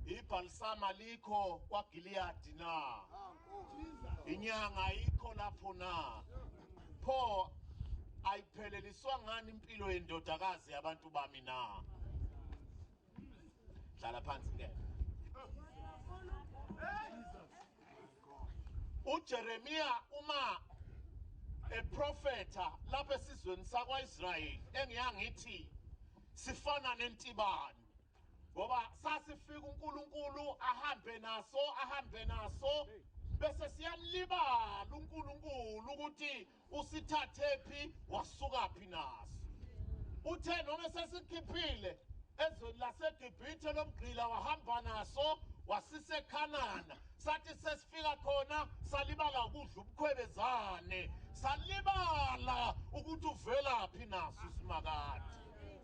Ibhalisama likho kwaGiliyadi na? Inyanga ayikho lapho na? Pho ayipheleliswa ngani impilo yendodakazi yabantu bami na? Hlala phansi ngeke. uJeremiya uma eprofetha lapha esizweni sakwaIsrayeli engiyangithi sifana nentibane Ngoba sasifika uNkulunkulu ahambe naso ahambe naso bese siyamlibala uNkulunkulu ukuthi usithathephi wasukaphi naso. Uthe noma sesikhiphile ezweni laseGibhithe lomgqila wahamba naso wasisekhanana sathi sesifika khona salibala ukudla ubukhwebezane salibala ukuthi uvelaphi naso simakade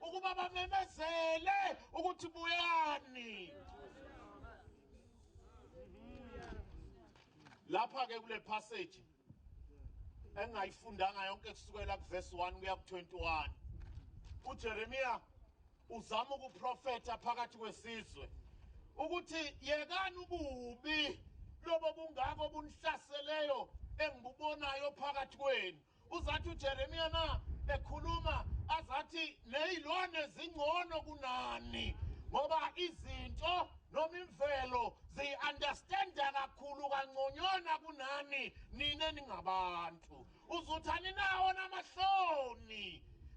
ukuba bamemezele ukuthi buyani lapha ke kule passage engayifundanga yonke kusukela kuverse 1 kuya ku21 uJeremiya uzama ukuprofeta phakathi kwesizwe ukuthi yekani ububi lobo bungako bunhlaseleyo engibubonayo phakathi kwenu Uzathi uJeremiya na ekhuluma azathi nezilwane zingcono kunani ngoba izinto noma imvelo ziyi-understanda kakhulu kangconywana kunani nina ningabantu uzuthi aninawo namahloni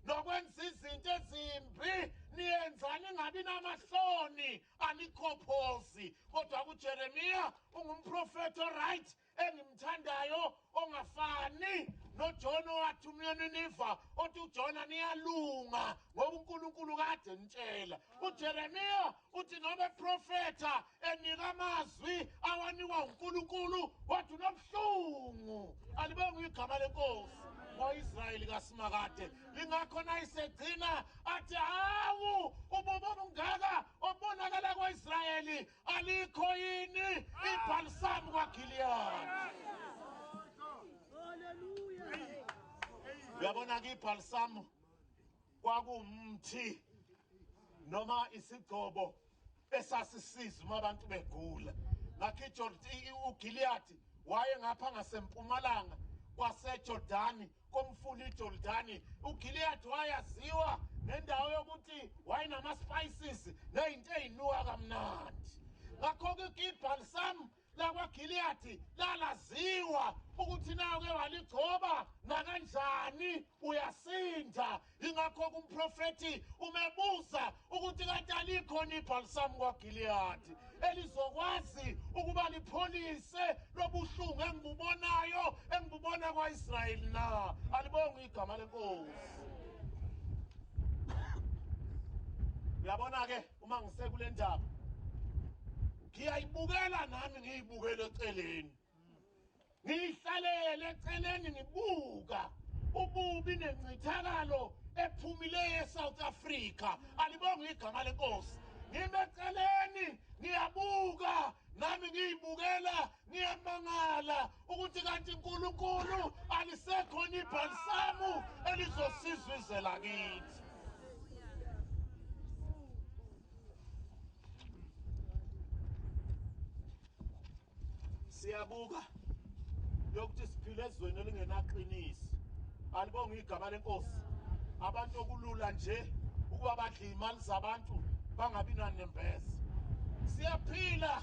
nokwenza izinto ezimbi niyenza ningabi namahloni anikhophozi kodwa kujeremiya ungumprofethi oright engimthandayo ongafani noJona owathi umyeni niva othi uJona niyalunga ngoba uNkulunkulu kade nitshela uJeremiya uthi noma eprofetha enika amazwi awanikwa uNkulunkulu wathi unobuhlungu alibonga igama lenkosi ngoIsrayeli kaSimakade lingakho nayisegcina athi hawu ububo bungaka obonakala kwaIsrayeli Alikho yini ibhalisamu kwaGiliyadi? Uyabona-ke ibhalisamu kwakuwumthi noma isigcobo esasisiza uma abantu begula ngakho ijordani ugiliyadi wayengapha ngasempumalanga kwasejordani komfula iJordani, uGileyadi wayaziwa ngendawo yokuthi wayenama-spices nezinto ezinuka kamnandi. Ngakho-ke uGibhalisam lakwaGileyadi lalaziwa ukuthi nayo ke waligcoba nakanjani uyasinda Ingakho-ke umprofethi umebuza ukuthi kade alikhona ibhalisamu kwaGiliyadi elizokwazi ukuba lipholise lobuhlungu engibubonayo engibubona kwa-Israyeli na? Alibonga igama lenkosi. Uyabona-ke uma ngisekule ndaba ngiyayibukela nami ngiyibukele eceleni Ngiyihlalele eceleni ngibuka ububi nencithakalo ephumile eSouth Africa. Alibonge igama lenkosi. Ngime eceleni ngiyabuka nami ngiyibukela ngiyamangala ukuthi kanti uNkulunkulu alisekhona ibhalisamu elizosiza izwe lakithi. siyabuka lokuthi siphila ezweni elingenaqiniso alibonga igama lenkosi abantu okulula nje ukuba badle imali zabantu bangabi nanembeza siyaphila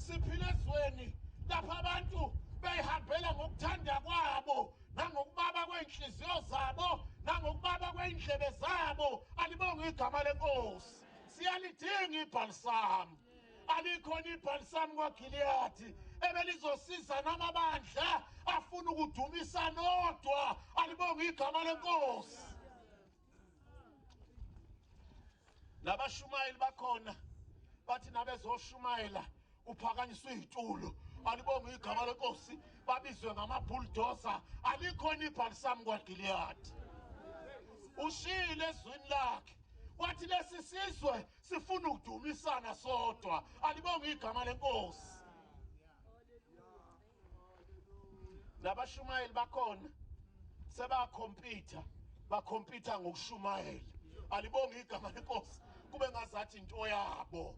siphila ezweni lapho abantu beyihambela ngokuthanda kwabo nangokubaba kwey'nhliziyo zabo nangokubaba kwey'ndlebe zabo alibonge igama lenkosi siyalidinga ibhalisami alikhona ibhalisamu kwagiliyadi ebelizosiza namabandla afuna ukudumisa nodwa alibonga igama lenkosi labashumayeli bakhona bathi nabezoshumayela uphakanyiswe izitulo alibonga igama lenkosi babizwe ngamabulldozer alikhona ibhalisamu kwagiliyadi ushiyile ezwini lakhe wathi lesi sizwe Sifuna ukudumisana sodwa. Alibonge igama lenkosi. Nabashumayeli bakhona sebakhompyutha bakhompyutha ngokushumayela. Alibonge igama lenkosi kube ngazathi into yabo.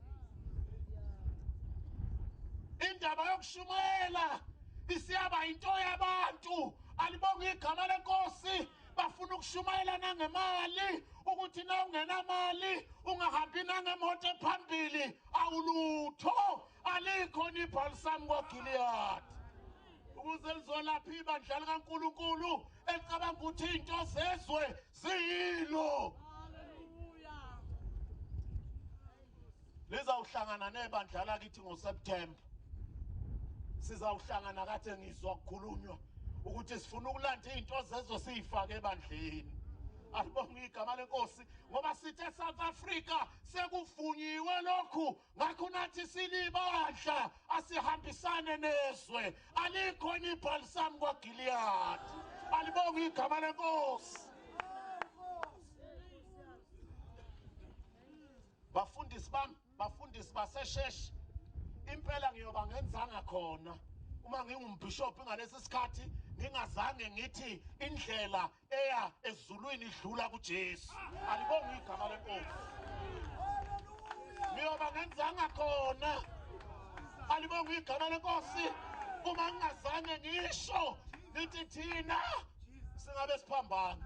Indaba yokushumayela isiyaba into yabantu. Alibonge igama lenkosi. bafuna ukushumayela nangemali ukuthi na ungenamali ungahambi nangemoto ephambili awulutho alikho nibhalisami kwagiliyadi ukuze lizolapha ibandla likankulunkulu elicabanga ukuthi iy'nto zezwe ziyilo lizawuhlangana nebandla lakithi ngoSeptember sizawuhlangana kade ngizwa kukhulunywa ukuthi sifuna ukulanda izinto zezwe siyifake ebandleni alibonge igama lenkosi ngoba sithe South Africa sekuvunyiwe lokhu ngakho nathi silibandla asihambisane nezwe alikho nibhalisami kwaGilead alibonge igama lenkosi bafundisi bami bafundisi basesheshi impela ngiyoba ngenzanga khona uma ngingumbhishophi ngalesi sikhathi ngingazange ngithi indlela eya ezulwini idlula kuJesu alibonga igama lenkosi ngiyoba ngenzanga khona alibonga igama lenkosi uma ngingazange ngisho ngithi thina singabe siphambana